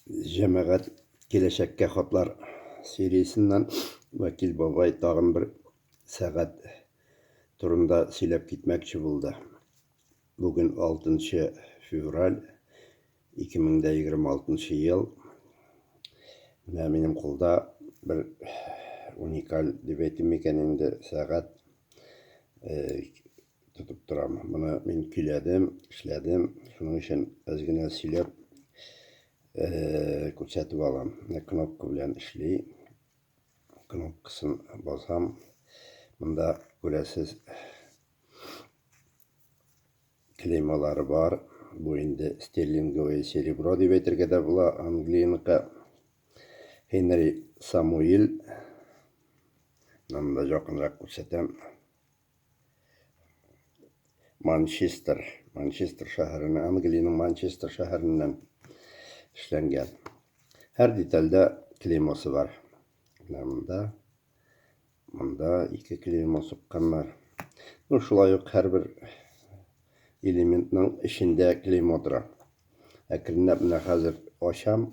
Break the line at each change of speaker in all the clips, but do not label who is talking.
Җәмәгать киләчәккә хатлар сериясеннән Вәкил бабай тагын бер сәгать турында сөйләп китмәкче булды. Бүген 6 февраль 2026 ел. Менә минем кулда бер уникаль дип әйтим микән инде сәгать. тотып торам. Моны мин көйләдем, эшләдем. Шуның өчен аз генә сөйләп күрсәтеп алам. Кнопка белән эшли. Кнопкасын басам. Монда күрәсез клеймалары бар. Бу инде стерлинговое серебро дип әйтергә дә була. Англияныкы Хенри Самуил. Монда якынрак күрсәтәм. Манчестер. Манчестер шәһәренә, Англиянең Манчестер шәһәреннән эшләнгән. Һәр детальдә клеймосы бар. Менә монда, монда ике клеймо сукканнар. Ну, шулай ук һәрбер элементның эчендә клеймо тора. Әкренләп менә хәзер ачам.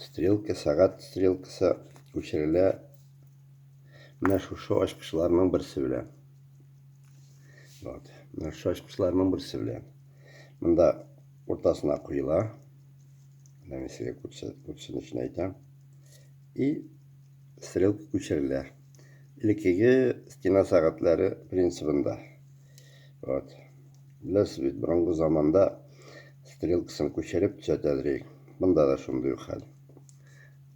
Стрелка, сәгать стрелкасы күчерелә менә шушы ачкычларның берсе белән. Вот, менә шушы ачкычларның берсе белән. Монда уртасына куела. Менә мин сезгә күрсен өчен әйтәм. И стрелка күчерелә. Элеккеге стена сәгатьләре принцибында. Вот. Беләсез бит, борынгы заманда стрелкасын күчереп төзәтәдер. Монда да шундый ук хәл.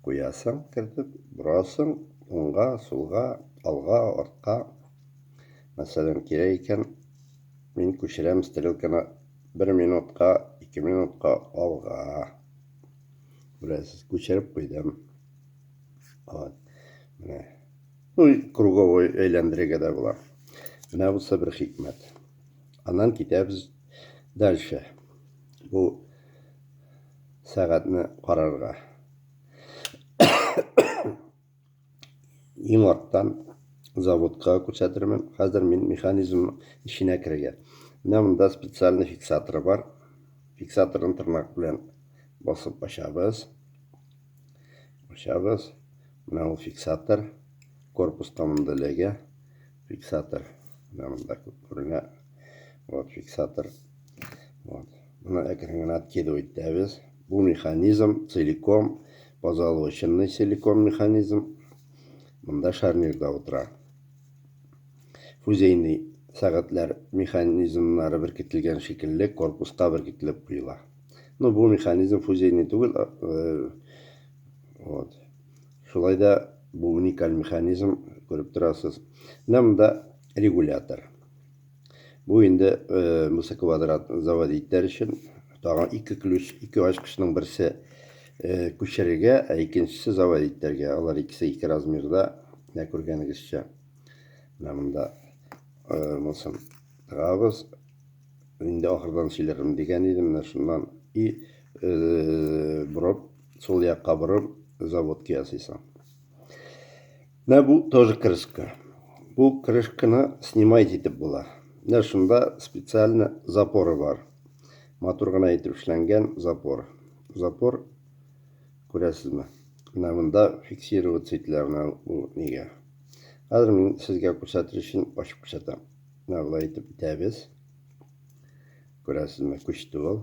Куясың, кертеп, борасың, уңга, сулга, алга, артка. Мәсәлән, кирәк икән, мин күчерәм стрелканы бер минутка, ике минутка алга. Беләсез, күчереп куйдым. Вот. Менә. Ну и круговой әйләндерергә дә була. Менә бусы бер хикмәт. Аннан китәбез дальше. Бу сәгатьне карарга. Иң арттан заводка күрсәтермен. Хәзер мин механизм эченә керергә. Менә монда специальный фиксатор бар. Фиксаторын тырнак белән басып ачабыз. Ачабыз. Менә ул фиксатор. Корпуска монда эләгә. Фиксатор. Менә монда күренә. Вот фиксатор. Вот. Моны әкрен генә откидывать итәбез. Бу механизм целиком позолоченный силикон механизм. Монда шарнирда утыра. Фузейный сәгатьләр механизмнары беркетелгән шикелле корпуска беркетелеп куела. Ну, бу механизм фузейный түгел, э, Вот. Шулай да бу уникаль механизм, күреп торасыз. Менә монда регулятор. Бу инде э, мусы квадрат завод иттәр өчен тагын ике ключ, ике ачкычның берсе э, күчерергә, ә икенчесе завод иттәргә. Алар икесе ике размерда, менә күргәнегезчә. Менә монда э, мусын тыгабыз. Инде ахырдан сөйләрмен дигән идем, менә шуннан и э, броп сул якка борып, заводка ясыйсың. Менә бу тоже крышка. Бу крышканы снимать итеп була. Менә шунда специально запоры бар. Матур гына итеп эшләнгән запор. Запор күрәсезме? Менә монда фиксировать ителә менә бу нигә. Хәзер мин сезгә күрсәтер өчен ачып күрсәтәм. Менә болай итеп итәбез. Күрәсезме, күчте ул.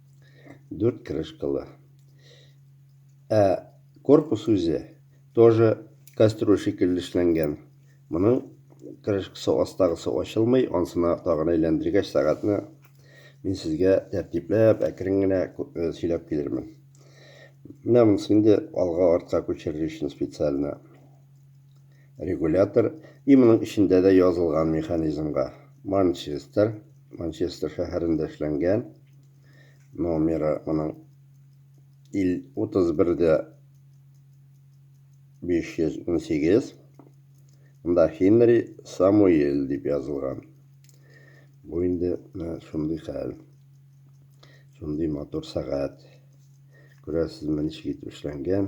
Дүрт крышкалы. Ә корпус үзе тоже кастрюль шикелле эшләнгән. Моның крышкасы астагысы ачылмый, ансына тагын әйләндергәч сәгатьне мин сезгә тәртипләп, әкрен генә э, сөйләп килермен. Менә монысы инде алга-артка күчерер өчен специально. регулятор и моның эчендә дә язылган механизмга Манчестер, Манчестер шәһәрендә эшләнгән номеры моның 31-дә 518 Монда Хенри Самуэль дип язылган. Бу инде шундый хәл. Шундый матур сәгать. Күрәсезме, ничек итеп эшләнгән.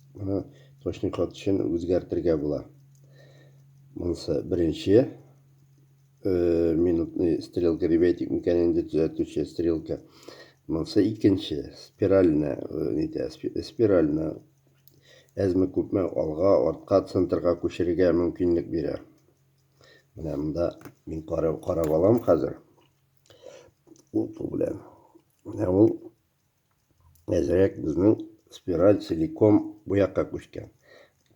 Моны точный код өчен үзгәртергә була. Монысы беренче э, минутный стрелка ребятик микән инде төзәтүче стрелка. Монысы икенче спиральне э, нитә спиральне әзме күпме алга, артка, центрга күчерергә мөмкинлек бирә. Менә монда мин карап, карап алам хәзер. Ул белән. Менә ул әзрәк безнең спираль целиком бу якка күчкән.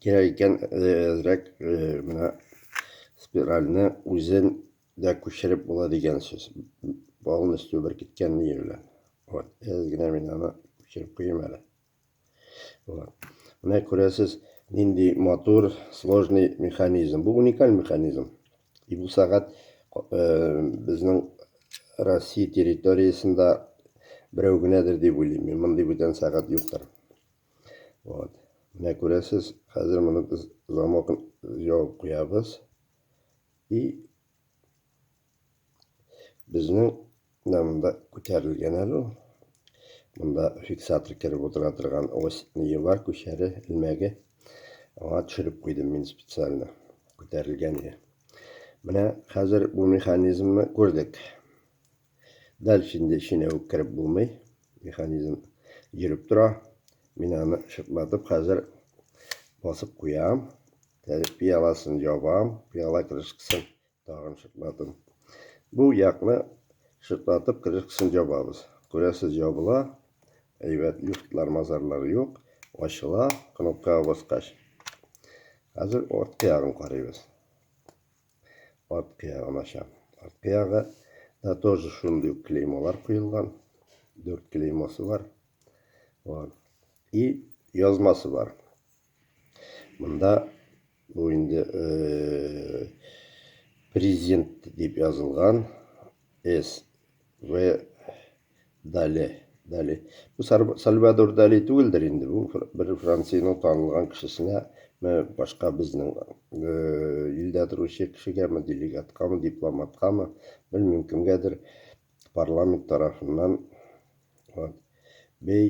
Кирәк икән әзрәк менә спиральне үзен дә күчереп була дигән сүз. Полностью бер киткән ниже белән. Вот, әз генә мин аны күчереп куйым әле. Менә күрәсез, нинди матур, сложный механизм. Бу уникаль механизм. И бу сәгать э, безнең Россия территориясендә берәү генәдер дип уйлыйм. Мин мондый бүтән сәгать юктыр. Вот. Менә күрәсез, хәзер моны без замокны ябып куябыз. И Безнең менә монда күтәрелгән әле ул. Монда фиксатор кереп утыра торган ось ние бар, күчәре, элмәге. Аңа төшереп куйдым мин специально. Күтәрелгән иде. Менә хәзер бу механизмны күрдек. Дальше инде эченә үк кереп булмый. Механизм йөреп тора. Мин аны шыплатып хәзер басып куям. Пиаласын ябам, пиала крышкасын Тагын шытладым. Бу якны шытлатып крышкасын ябабыз. Күрәсез, ябыла. Әйбәт, люфтлар, мазарлар юк. Ачыла, кнопкага баскач. Хәзер арткы ягын карыйбыз. Арткы ягын ачам. Арткы ягы да тоже шундый ук клеймолар куелган. Дүрт клеймосы бар. Вот. И язмасы бар. Монда Бу инде президент дип язылган С. В. Дали. Дали. Бу Сальвадор Дали түгелдер инде. Бу бер Франциянең танылган кешесенә башка безнең илдә торучы кешегәме, делегаткамы, дипломаткамы, белмим кемгәдер парламент тарафыннан бей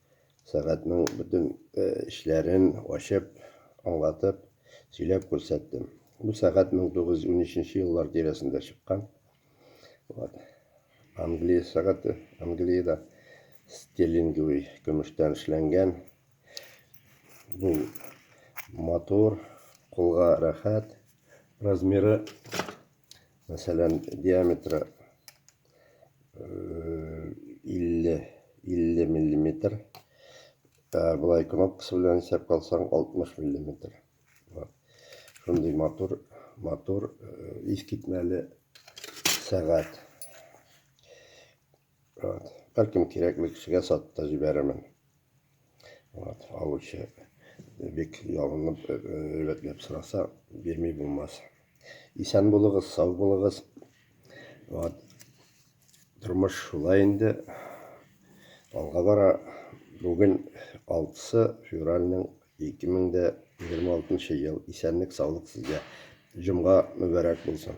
сәгатьнең бөтен эшләрен ачып, аңлатып, сөйләп күрсәттем. Бу сәгать 1913 еллар тирәсендә чыккан. Вот. Англия сәгате, Англиядә стерлинговый көмештән эшләнгән. Бу матур, кулга рәхәт, размеры Мәсәлән, диаметры 50 э, 50 миллиметр. Ә былай кнопкасы белән исәп калсаң 60 миллиметр. Вот. Шундый матур, матур, э, искитмәле сәгать. Вот. Бәлкем кирәкле кешегә сатып та җибәрермен. Вот. Алучы бик ялынып, рәтләп сораса, бирми булмас. Исән булыгыз, сау булыгыз. Вот. Тормыш шулай инде. Алга бара. Бүген 6 февральнең 2026 ел. Исәнлек, саулык сезгә. Җомга мөбарәк булсын.